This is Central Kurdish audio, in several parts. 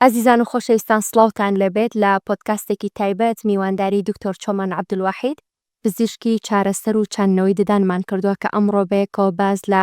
ئازیزان و خۆشەویستان سڵاوتان لێبێت لە پۆدکاستێکی تایبەت میوانداری دکتۆر چۆمان عەبدولواحید پزیشکی چارەسەر و چاندنەوەی ددانمان کردووە کە ئەمڕۆ بەیەکەوە باز لە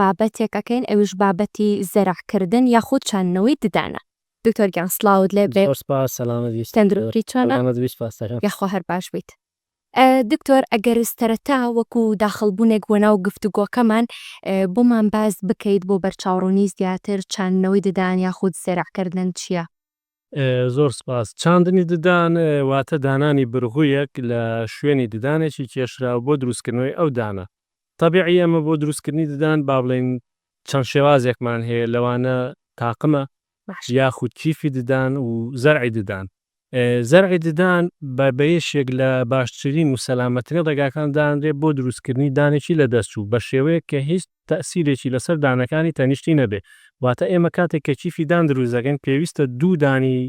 بابەتێک ئەکەین ئەویش بابەتی زەرعکردن یاخود چاندنەوەی ددانە دکتۆر گیان سڵاوت لێبێت سەلامەت بیت تەندروستی چۆنە سەلامەت بیت سپاس دەکەم یاخوا هەر باش بیت. دکتۆر ئەگەر سەرەتا وەکو داخڵبوونێک بۆ ناو گفتوگۆکەمان بۆمان باس بکەیت بۆ بەرچاوڕوونی زیاتر چاندنەوەی ددان یاخود زەرعکردن چیە؟ زۆر سپاس. چاندنی ددان واتە دانانی برغویەک لە شوێنی ددانێکی کێشراو بۆ دروستکردنەوەی ئەو دانە. تەبعی ئێمە بۆ دروستکردنی ددان با بڵێین چەند شێوازێکمان هەیە لەوانە تاقمە، یاخود کیفی ددان و زەرعی ددان. زەرعی ددان بە بەیەشێک لە باشترین و سەلامەترین ڕێگاکان دانرێت بۆ دروستکردنی دانێکی لەدەستچوو بە شێوەیەک کە هیچ تەئسیرێکی لەسەر دانەکانی تەنیشتی نەبێت واتە ئێمە کاتێک کە کیفی دان دروست دەکەین پێویستە دوو دانی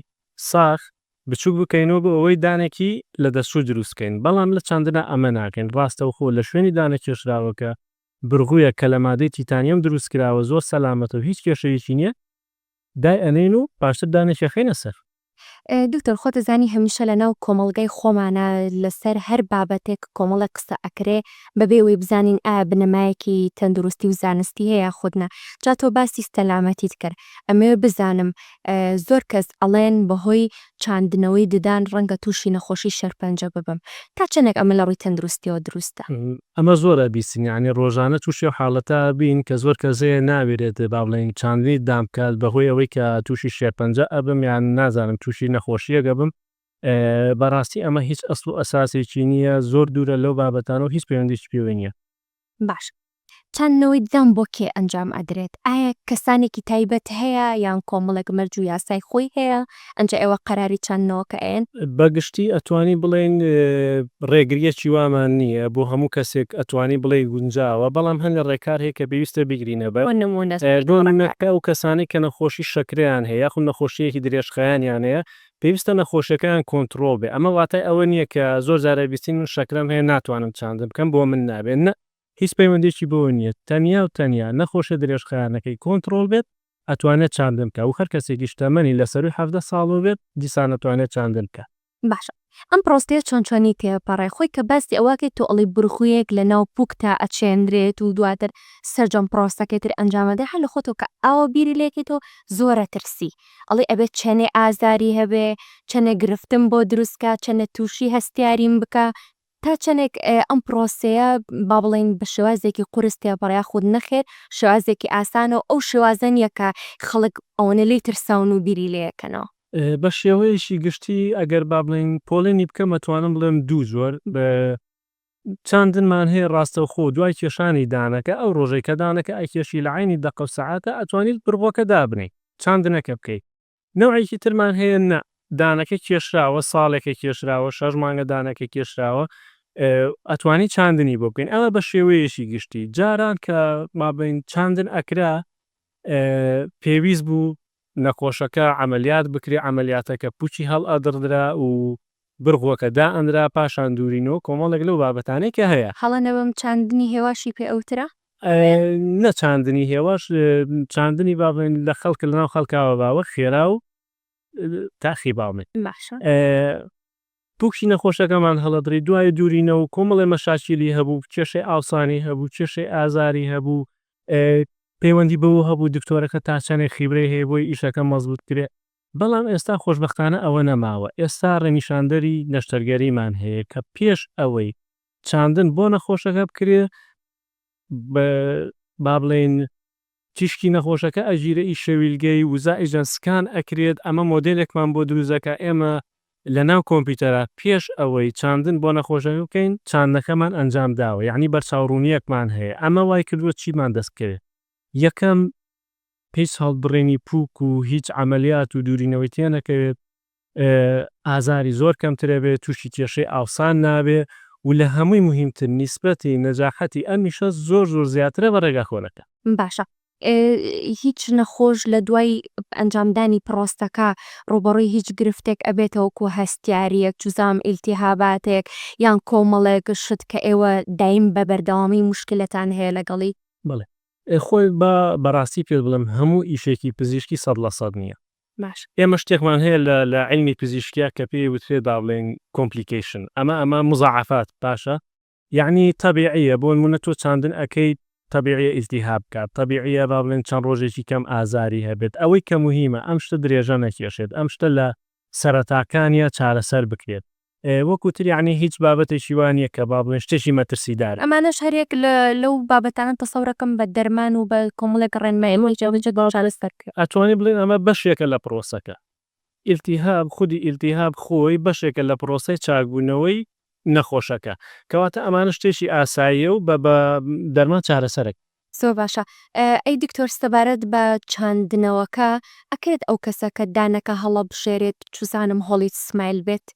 ساخ بچوک بکەینەوە بۆ ئەوەی دانێکی لەدەستچوو دروست بکەین بەڵام لە چاندنا ئەمە ناکەین ڕاستەوخۆ لە شوێنی دانە کێشراوەکە برغویەک کە لە مادەی تیتانیۆم دروست کراوە زۆر سەلامەتە و هیچ کێشەیەکی نیە دای ئەنێین و پاشتر دانێکیەخەینە سەر. دکتۆر خۆت ئەزانی هەمیشە لەناو کۆمەڵگای خۆمانا لەسەر هەر بابەتێک کۆمەڵێک قسە ئەکرێ بەبێ ئەوەی بزانین ئایا بنەمایەکی تەندروستی و زانستی هەیە یاخود نا جا تۆ باسی سەلامەتیت کرد ئەمەوێ بزانم زۆر کەس ئەڵێن بەهۆی چاندنەوەی ددان ڕەنگە تووشی نەخۆشی شێرپەنجە ببم، تا چەندێک ئەمە لە ڕووی تەندروستییەوە دروستە؟ ئەمە زۆر ئەبیستین یانی ڕۆژانە تووشی ئەو حاڵەتە ئەبین کە زۆر کەس هەیە ناویرێت با بڵێین چاندنی ددان بکات بەهۆی ئەوەی کە تووشی شێرپەنجە ئەبم یان نازانم تووشی نەخۆشییەک ئەبم بەڕاستی ئەمە هیچ ئەسڵ و ئەساسێکی نییە زۆر دوورە لەو بابەتانە و هیچ پەیوەندییەکی پێوەی نییە. باشە چاندنەوەی ددان بۆ کێ ئەنجام ئەدرێت؟ ئایا کەسانێکی تایبەت هەیە یان کۆمەڵێک مەرج و یاسای خۆی هەیە ئەنجا ئێوە قەراری چاندنەوەکە ئەیەن؟ بە گشتی ئەتوانی بڵێین ڕێگریەکی وامان نییە بۆ هەموو کەسێک ئەتوانی بڵێی گونجاوە بەڵام هەندێک ڕێکار هەیە کە پێویستە بیگرینە بەر بۆ نموونە چ جۆرە ڕێکارێک؟ بۆ نموونە ئەو کەسانەی کە نەخۆشی شەکرەیان هەیە یاخود نەخۆشییەکی درێژخایەنیان هەیە پێویستە نەخۆشیەکەیان کۆنتڕۆڵ بێ ئەمە واتای ئەوە نیە کە زۆر جارە بیستی من شەکرەم هەیە ناتوانم چاندن بکەم بۆ من نابێت نە هیچ پەیوەندیەکی بەوە نیە تەنیا و تەنیا نەخۆشیە درێژخایەنەکەی کۆنتڕۆڵ بێت ئەتوانێت چاندن بکات و هەر کەسێکیش تەمەنی لە سەرووی حەڤدە ساڵەوە بێت دیسان ئەتوانێت چاندن بکات. باشە ئەم پرۆستەیە چۆن چۆنی تێپەڕێ خۆی کە باسی ئەوەکەی تۆ ئەڵی برغویەک لە ناو پوکتا ئەچێنرێت و دواتر سەرجەم پرۆسەکەی تر ئەنجامەدرێ هەر لە خۆتەوە کە ئاوا بیری لێکەیتەوە زۆرە ترسی ئەڵێ ئەبێ چەنێ ئازاری هەبێ، چەنێ گرفتم بۆ دروست کا، چەنێ تووشی هەستیاریم بکا، تا چەنێک ئەم پرۆسەیە با بڵێین بە شێوازێکی قورس تێپەڕێ یاخود نەخێر شێوازێکی ئاسانە و ئەو شێوازە نییە کە خەڵک ئەوەنە لێی ترساون و بیری لێ یەکەنەوە. بە شێوەیەکی گشتی ئەگەر با بڵێین پۆلێنی بکەم ئەتوانم بڵێم دوو جۆر چاندنمان هەیە ڕاستەوخۆ دوای کێشانی دانەکە ئەو ڕۆژەی کە دانەکە ئەکێشی لە عەینی دەقە و سەعاتە ئەتوانیت بڕگۆکە دابنێی چاندنەکە بکەی. نەوعێکی ترمان هەیە نا دانەکە کێشراوە ساڵێکە کێشراوە شەش مانگە دانەکە کێشراوە ئەتوانی چاندنی بۆ بکەین ئەمە بە شێوەیەکی گشتی جاران کە مابین چاندن ئەکرا پێویست بوو نەخۆشەکە عەمەلیات بکرێ، عەمەلیاتەکە پووچی هەڵئەدڕدرا و برغوەکە دائەنرا، پاشان دوورینەوە، کۆمەڵێک لەو بابەتانەی کە هەیە. هەڵە نەبم چاندنی هێواشی پێ ئەوترا؟ نە چاندنی هێواش، چاندنی با بڵێین لە خەڵک لەناو خەڵکاوە باوە خێرا و تاخی باڵمێ. باشە. پووکی نەخۆشەکەمان هەڵەدڕی، دوای دوورینە و کۆمەڵێ مەشاکیلی هەبوو، کێشەی ئاوسانی هەبوو، کێشەی ئازاری هەبوو، پەیوەندی بەوە هەبوو دکتۆرەکە تا چەندێک خیبرەی هەیە بۆی ئیشەکە مەزبووت بکرێت، بەڵام ئێستا خۆشبەختانە ئەوە نەماوە، ئێستا ڕێنیشاندەری نەشتەرگەریمان هەیە کە پێش ئەوەی چاندن بۆ نەخۆشەکە بکرێت، با بڵێین تیشکی نەخۆشەکە ئەگیرێ ئی شەویلگەی وزە ئیجا سکان ئەکرێت ئەمە مۆدێلێکمان بۆ دروست دەکا ئێمە لە ناو کۆمپیوتەرا پێش ئەوەی چاندن بۆ نەخۆشەکە بکەین چاندنەکەمان ئەنجام داوە یەعنی بەرچاو ڕوونیەکمان هەیە ئەمە وای کردووە چیمان دەست بکەوێت یەکەم هیچ هەڵبڕینی پووک و هیچ عەمەلیات و دوورینەوەی تێنەکەوێت ئازاری زۆر کەمتر ئەبێ توشی کێشەی ئاوسان نابێ و لە هەمووی موهیم تر نیسبەتی نەجاحەتی ئەم ئیشە زۆر زۆر زیاترە بە ڕێگا کۆنەکان. باشە هیچ نەخۆش لە دوای ئەنجام دانی پڕۆستەکە ڕووبەڕووی هیچ گرفتێک ئەبێتە وەکو هەستیاریەک جزام ئیلتیهاباتێک یان کۆمەڵێک شت کە ئێوە دایم بە بەردەوامی موشکیلەتان هەیە لەگەڵی؟ بەڵێ خۆی با بەڕاستی پێت بڵێم هەموو ئیشێکی پزیشکی سەد لە سەد نیە باش. ئێمە شتێکمان هەیە لە لە عیلمی پزیشکیا کە پێی وترێت با بڵێین کۆمپلیکەیشن ئەمە ئەمە مزاعەفات باشە یەعنی تەبیعیە بۆ نموونە تۆ چاندن ئەکەیت تەبیعیە ئیلتیهاب بکات تەبیعیە با بڵێین چەند ڕۆژێکی کەم ئازاری هەبێت ئەوەی کە موهیمە ئەم شتە درێژە نەکێشێت ئەم شتە لە سەرەتاکانیا چارەسەر بکرێت وەک وتت یەعنی هیچ بابەتێکی وا نیە کە با بڵێین شتێکی مەترسیدارە. ئەمانەش هەریەک لە لەو بابەتانەن تەسەورەکەم بە دەرمان و بە کۆمەڵێک ڕێنمایی جێبەجێ دەکرێت چارەسەر بکرێت. ئەتوانین بڵێین ئەمە بەشێکە لە پرۆسەکە. ئیلتیهاب، خودی ئیلتیهاب خۆی بەشێکە لە پرۆسەی چاکبوونەوەی نەخۆشەکە. کەواتە ئەمانە شتێکی ئاساییە و بە بە دەرمان چارەسەرەکرێت. زۆر باشە ئەی دکتۆر سەبارەت بە چاندنەوەکە ئەکرێت ئەو کەسە کە دانەکە هەڵەبژێرێت چزانم هۆڵی سمایل بێت؟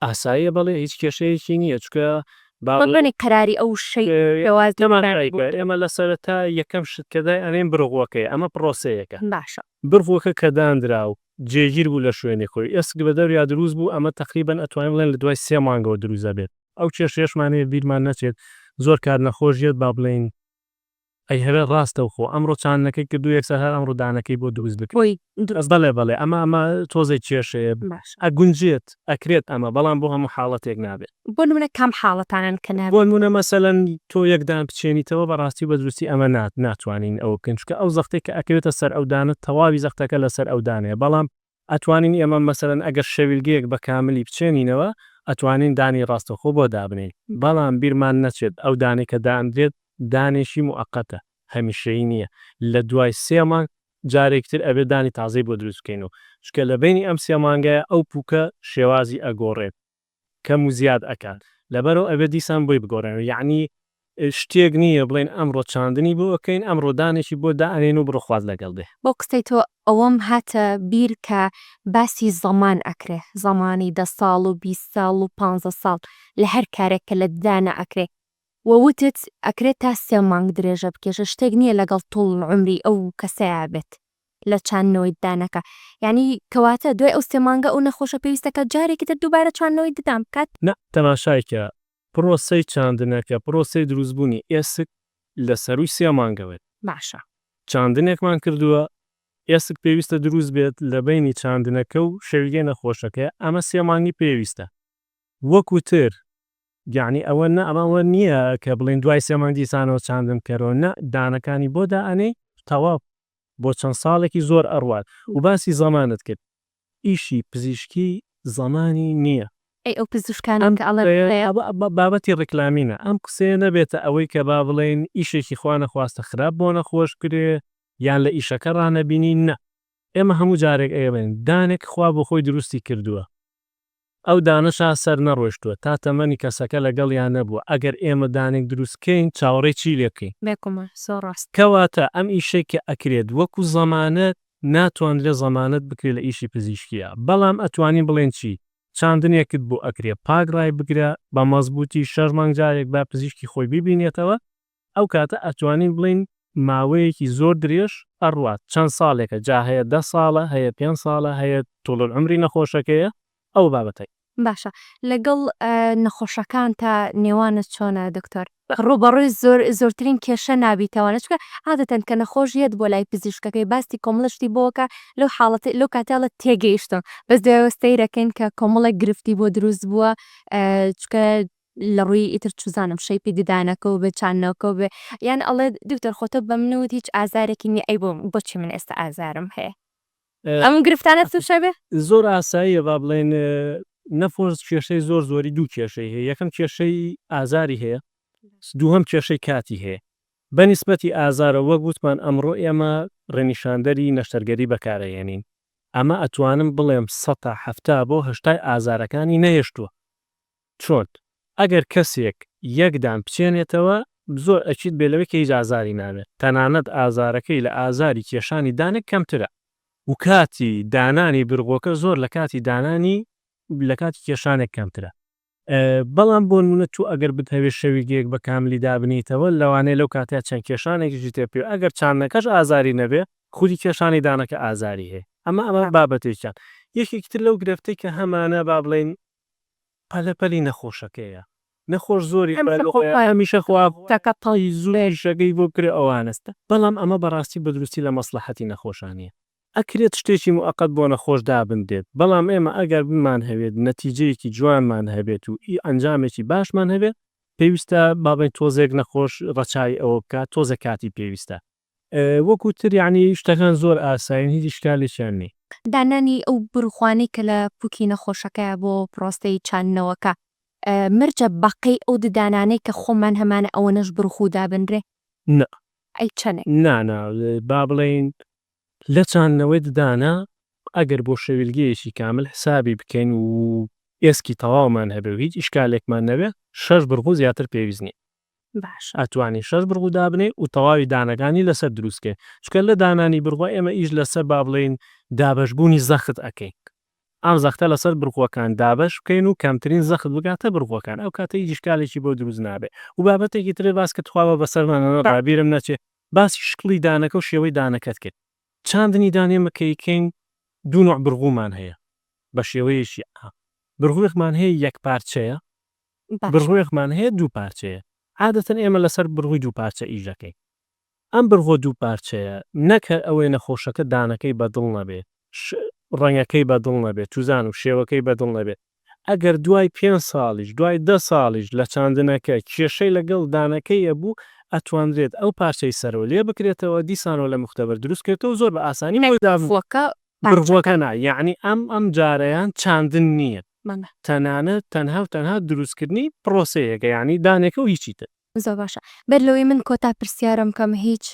ئاساییە بەڵێ هیچ کێشەیەکی نییە چونکە با. بەڵێ قەراری ئەو شەی شێوازی نەمان تای بۆ ئێمە لە سەرەتا یەکەم شت کە دای ئەنێین بڕغوەکەیە ئەمە پڕۆسەیەکە باشە. بڕغوەکە کە دانرا و جێگیر بوو لە شوێنی خۆی ئێسک بە دەوریا دروست بوو ئەمە تەقریبەن ئەتوانین بڵێن لە دوای سێ مانگەوە دروست ئەبێت ئەو کێشەیەشمان هەیە بیرمان نەچێت زۆر کات نەخۆش یەت با بڵێین ئەی هەرە ڕاستەو خۆ ئەمڕۆ چاندنەکەی کردو یەکسەر هەر ئەمڕۆ دانەکەی بۆ دروست بکە بۆی دروست بەڵێ بەڵێ ئەمە ئەمە تۆزێک کێشەیە باشە. ئەگونجێت ئەکرێت ئەمە بەڵام بۆ هەموو حاڵەتێک نابێت. بۆ نمونە کام حاڵەتانەن کە نابێت؟ بۆنمونە مەسەلەن تۆ یەک دان بچێنیتەوە بەڕاستی و بەدروستی ئەمە نا ناتوانین ئەوە بکەین چونکە ئەو زەختەی کە ئەکەوێتە سەر ئەو دانە تەواوی زەختەکە لەسەر ئەو دانەیە بەڵام ئەتوانین ئێمە مەسەلەن ئەگەر شەویلگەیەک بە کاملی بچێنینەوە ئەتوانین دانی ڕاستەوخۆ بۆ دابنێین بەڵام بیرمان نەچێت ئەو دانەی کە دانرێت دانێکی موقەتە هەمیشەیی نییە لە دوای سێ مانگ جارێکی تر ئەبێت دانی تازەی بۆ دروست بکەینەوە چونکە لە بەینی ئەم سێ مانگەیا ئەو پوکە شێوازی ئەگۆڕێت کەم و زیاد ئەکات لەبەرئەوە ئەبێت دیسان بۆی بگۆڕێنەوە یەعنی شتێک نییە بڵێن ئەمڕۆ چاندنی بۆ ئەکەین ئەمڕۆ دانێکی بۆ دائەنێن و بڕۆ خوات لەگەڵ بێ. بۆ قسەی تۆ ئەوەم هاتە بیر کە باسی زەمان ئەکرێ زەمانی دە ساڵ و بیست ساڵ و پانزە ساڵ لە هەر کارێک کە لە ددانە ئەکرێ وە وتت ئەکرێ تا سێ مانگ درێژە بکێشێ شتێک نییە لەگەڵ طول العمری ئەو کەسەیا بێت. لە چاندنەوەی ددانەکە یانی کەواتە دوای ئەو سێ مانگە ئەو نەخۆشە پێویستە کە جارێکی تر دووبارە چاندنەوەی ددان بکات؟ نا، تەماشای کە پرۆسەی چاندنەکە پرۆسەی دروستبوونی ئێسک لە سەرووی سێ مانگە بێت. باشە. چاندنێکمان کردووە ئێسک پێویستە دروست بێت لە بەینی چاندنەکە و شەویلکەی نەخۆشەکەی ئەمە سێ مانگی پێویستە وەکوتر یەعنی ئەوە نە ئەمە ئەوە نیە کە بڵێن دوای سێ مانگ دیسانەوە چاندن کەرەوە نا دانەکانی بۆ دائەنێی تەواو بۆ چەند ساڵێکی زۆر ئەڕوات و باسی زەمانت کرد ئیشی پزیشکی زەمانی نیە. ئەی ئەو پزیشکانەی کە ئەڵێن بڵێ. ئەم قسەیە بابەتی ڕیکلامینە ئەم قسەیە نەبێتە ئەوەی کە با بڵێین ئیشێکی خوا نەخواستە خراپ بۆ نەخۆش کرێ یان لە ئیشەکە ڕانەبینین نا ئێمە هەموو جارێک ئەیڵێن دانێک خوا بۆ خۆی دروستی کردووە ئەو دانشا سەر نەڕۆشتوە تا تەمەنی کەسەکە لەگەڵیا نەبوە ئەگەر ئێمە دانێک دروست کەین چاوەڕێی چی لێ بکەین. بێ کومە زۆر ڕاست. کەواتە ئەم ئیشەی کە ئەکرێت وەکو زەمانەت ناتواندرێ زەمانەت بکرێ لە ئیشی پزیشکیا بەڵام ئەتوانین بڵێن چی چاندنێکت بۆ ئەکرێ پاک ڕای بگرە بە مەزبوتی شەش مانگ جارێک با پزیشکی خۆی بیبینێتەوە ئەو کاتە ئەتوانین بڵێین ماوەیەکی زۆر درێژ ئەڕوات چەند ساڵێکە جا هەیە دە ساڵە هەیە پێنج ساڵە هەیە طول العمری نەخۆشەکەیە ئەوە بابەتەک. باشە لەگەڵ نەخۆشەکانتا نێوانت چۆنە دکتۆر؟ ڕووبەڕووی زۆرترین کێشە نابیتەوە چونکە عادەتەن کە نەخۆش یەت بۆ لای پزیشکەکەی باستی کۆمەڵە شتی بۆکە لەو حاڵەتەی لەو کاتە ئەڵێت تێگەیشتم بەس دوایەوە سەیرەکەین کە کۆمەڵێک گرفتی بۆ دروست بووە چونکە لە ڕووی ئیتر چزانم شەیپی ددانەکەو بێ چاننەوەکەو بێ یان ئەڵێ دکتۆر خۆ تۆ بەمن وت هیچ ئازارێکی نیە ئەی بۆم بۆچی من ئێستا ئازارم هەیە ئەم گرفتانە توشە بێ؟ زۆر ئاساییە با بڵێین نەفۆس کێشەی زۆر زۆری دوو کێشەی هەیە یەکەم کێشەی ئازاری هەیە دووهەم کێشەی کاتی هەیە بە نیسبەتی ئازارەوە وەک وتمان ئەمڕۆ ئێمە ڕێنیشاندەری نەشتەرگەری بەکارەهێنین ئەمە ئەتوانم بڵێم سەتا حەفتا بۆ هەشتای ئازارەکانی نەهێشتووە چۆن؟ ئەگەر کەسێک یەک دان بچێنێتەوە زۆر ئەکید بێ لەوەی کە هیچ ئازاری نابێت تەنانەت ئازارەکەی لە ئازاری کێشانی دانێک کەمترە و کاتی دانانی برغۆکە زۆر لە کاتی دانانی لە کاتی کێشانێک کەمترە. بەڵام بۆ نموونە تۆ ئەگەر بتهەوێت شەویگەیەک بە کاملی دابنێیتەوە لەوانەیە لەو کاتەیا چەند کێشانێکیشی تێ بکەوێت ئەگەر چاندنەکەش ئازاری نەبێت خودی کێشانی دانەکە ئازاری هەیە ئەمە ئەمە بابەتێکیان یەکێکی تر لەو گرفتەی کە هەمانە با بڵێین پەلە پەلی نەخۆشەکەیە نەخۆش زۆری هەمیشە هەمیشە خوا تەکە تای زوو شەکەی بۆ کرێ ئەوانەس بەڵام ئەمە بەڕاستی بەدروستی لە مەسڵەحەتی نەخۆشا نیە ئەکرێت شتێکی موئەقەت بۆ نەخۆش دابندرێت بەڵام ئێمە ئەگەر بمان هەوێت نەتیجەیەکی جوانمان هەبێت و ئی ئەنجامێکی باشمان هەبێت پێویستە بابەین تۆزێک نەخۆش ڕەچاوی ئەوە بکات تۆزێک کاتی پێویستە. وەکو تر یەعنی شتەکان زۆر ئاسایین هیچ ئیشکالێکیان نیە. دانانی ئەو بروخوانەی کە لە پوکی نەخۆشەکەیە بۆ پرۆسەی چاندنەوەکە مەرجە بەقەی ئەو ددانانەی کە خۆمان هەمانە ئەوەنەش بروخو دابنرێ؟ نا. ئەی چەنێ؟ نا نا با بڵێین لە چاندنەوەی ددانە ئەگەر بۆ شەویلگەیەکی کامل حسابی بکەین و ئێسکی تەواومان هەبێ و هیچ ئیشکالێکمان نەبێ شەش بروخو زیاتر پێویست نیە. باش ئەتوانی شەش بڕگو دابنێی و تەواوی دانەکانی لەسەر دروست کەی چونکە لە دانانی بڕگوە ئێمە ئیش لەسەر با بڵێین دابەش بوونی زەخت ئەکەین ئەم زەختە لەسەر بڕگوەکان دابەش بکەین و کەمترین زەخت بگاتە بڕگوەکان ئەو کاتە هیچ ئیشکالێکی بۆ دروست نابێ و بابەتێکی ترێ باس کرد تخوا با بەسەرمان نەڕوا بیرم نەچێ باسی شکڵی دانەکە و شێوەی دانەکەت کرد چاندنی دان ئێمە کە ئیکەین دوو نوع بڕگومان هەیە بە شێوەیەکی عام بڕگوێکمان هەیە یەک پارچەیە بڕوێکمان هەیە دوو پارچەیە، عادەتەن ئێمە لەسەر بڕووی دوو پارچە ئیش دەکەین. ئەم بڕووە دوو پارچەیە نەک هەر ئەوەی نەخۆشەکە دانەکەی بە دڵ نەبێ، ڕەنگەکەی بە دڵ نەبێ، توزان و شێوەکەی بە دڵ نەبێ، ئەگەر دوای پێنج ساڵیش، دوای دە ساڵیش لە چاندنەکە کێشەی لەگەڵ دانەکەی هەبوو، ئەتوانرێت ئەو پارچەی سەرەوە لێ بکرێتەوە، دیسانەوە لە مختبر دروست بکرێتەوە و زۆر بە ئاسانی بۆی دابنرێت. بڕبووەکە نا یەعنی ئەم ئەم جارەیان چاندن نییە تەنانەت تەنها و تەنها دروستکردنی پڕۆسەیەکە یەعنی دانێکە و هیچی تر. زۆر باشە بەر لەوەی من کۆتا پرسیارم بکەم هیچ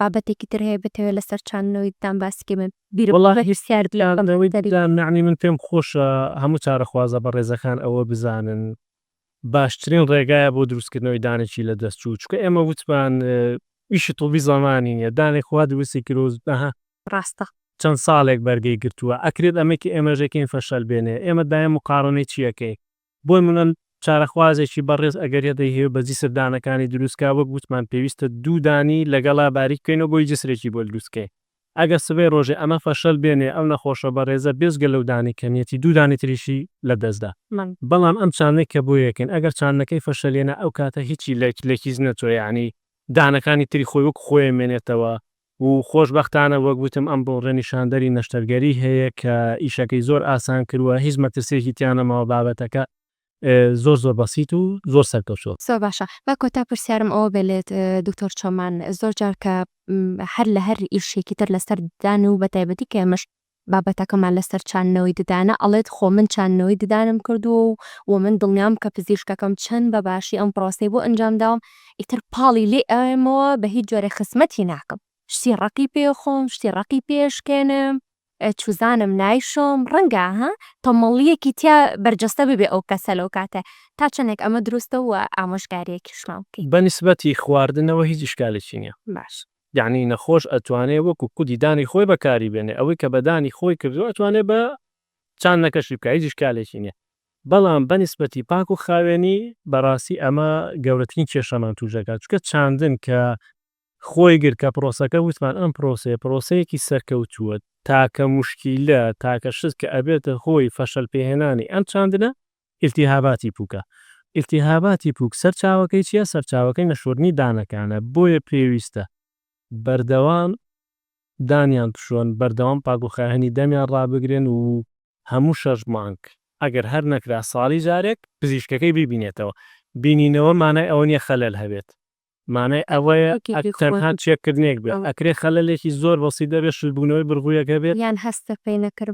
بابەتێکی تر هەیە بتەوێ لەسەر چاندنەوەی ددان باسی کەی من بیرم بە پرسیار بکەم. وەڵاهی چاندنەوەی ددان یەعنی من پێم خۆشە هەموو چارەخوازە بەڕێزەکان ئەوە بزانن باشترین ڕێگایە بۆ دروستکردنەوەی دانێکی لە دەستچوو چونکە ئێمە وتمان ئیشی طوبی زمانی نیە دانێک خوا دروستی کرد ڕاستە. چەند ساڵێک بەرگەی گرتووە ئەکرێت ئەمەی کە ئێمەش دەکەین فەشەل بێنێ ئێمە دایم مقاڕنەی چی ئەکەین بۆ منە چارەخوازێکی بەڕێز ئەگەر یە دەیهەوێت بە جسر دانەکانی دروست کا وەک وتمان پێویستە دوو دانی لەگەڵا باریک بکەینەوە بۆی جسرێکی بۆ دروست کەین ئەگەر سبەی ڕۆژێ ئەمە فەشەل بێنێ ئەو نەخۆشە بەڕێزە بێجگە لەو دانەی کە نیەتی دوو دانەی تریشی لە دەست دا بەڵام ئەم چاندنەی کە بۆ یەکەین ئەگەر چاندنەکەی فەشەل هێنا ئەو کاتە هیچی لە کیس نەچووە یانی دانەکانی تری خۆی وەکو خۆی ئەمێنێتەوە و خۆش بەختانە وەک وتم ئەم بڕۆڵە نیشاندەری نەشتەرگەری هەیە کە ئیشەکەی زۆر ئاسان کرووە هیچ مەترسیەکی تیا نەماوە بابەتەکە زۆر زۆر بەسیت و زۆر سەرکەوتوە. زۆر باشە با کۆتا پرسیارم ئەوە بێ لێت دکتۆر چۆمان زۆر جار کە هەر لە هەر ئیشێکی تر لەسەر ددان و بەتایبەتی کە ئێمەش بابەتەکەمان لەسەر چاندنەوەی ددانە ئەڵێت خۆ من چاندنەوەی ددانم کردووە و و من دڵنیام کە پزیشکەکەم چەند بە باشی ئەم پرۆسەی بۆ ئەنجام داوم ئیتر پاڵی لێ ئەوێمەوە بە هیچ جۆرێ خزمەتی ناکەم شتی ڕەقی پێ ئەخۆم شتی ڕەقی پێ ئەشکێنم چوزانم نایشۆم ڕەنگە ها تەمەڵیەکی تیا بەرجەستە ببێ ئەو کەسە لەو کاتە تا چەنێک ئەمە دروستە و ئامۆژگاریەکیشمان بکەی. بە نیسبەتی خواردنەوە هیچ ئیشکالێکی نیە. باش. یەعنی نەخۆش ئەتوانێ وەکو کودی دانی خۆی بەکاری بێنێ ئەوەی کە بە دانی خۆی کردوە ئەتوانێ بە چاندنەکەشی بکا هیچ ئیشکالێکی نیە بەڵام بە نیسبەتی پاک و خاوێنی بەڕاستی ئەمە گەورەترین کێشەمان توش دەکات چونکە چاندن کە خۆی گرت کە پرۆسەکە وتمان ئەم پرۆسەیە پرۆسەیەکی سەرکەوتووە تاکە موشکیلە تاکە شت کە ئەبێتە هۆی فەشەل پێهێنانی ئەم چاندنە ئیلتیهاباتی پووکە ئیلتیهاباتی پووک سەرچاوەکەی چیە سەرچاوەکەی نەشۆردنی دانەکانە بۆیە پێویستە بەردەوام دانیان بشۆن بەردەوام پاکوخاێنی دەمیان ڕابگرن و هەموو شەش مانگ ئەگەر هەر نەکرا ساڵی جارێک پزیشکەکەی بیبینێتەوە بینینەوە مانای ئەوە نیە خەلەل هەبێت مانای ئەوەیە ئەک تەنها چێکردنێک بێت، ئەکرێت خەلەلێکی زۆر بەسیت دەبێت شلبوونەوەی بڕگویەک هەبێت،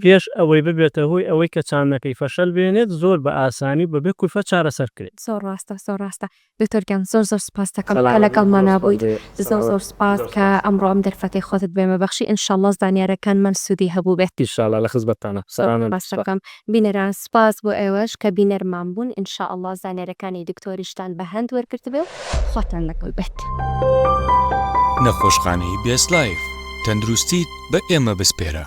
پێش ئەوەی ببێتە هۆی ئەوەی کە چاندنەکەی فەشەل بێنێت، زۆر بە ئاسانی و بەبێ کولفەت چارەسەر کرێت. زۆر ڕاستە زۆر ڕاستە دکتۆر گیان زۆر زۆر سوپاست دەکەم کە لەگەڵمانا بوویت زۆر زۆر سوپاس کە ئەمڕۆ ئەم دەرفەتەی خۆتت بێمە بەخشی انشاللە زانیارەکانمان سوودی هەبووبێت. ئیشاڵا لە خزمەتتانە سەرانە. بینەران سوپاس بۆ ئێوەش کە بینەرمان بوون ان شاء اللە زانیارەکانی دکتۆریشتان بە هەند وەرگرتبێ و خواتان لەگەڵ بێت. نەخۆشخانەی بێست لایف تەندروستیت بە ئێمە بسپێرە.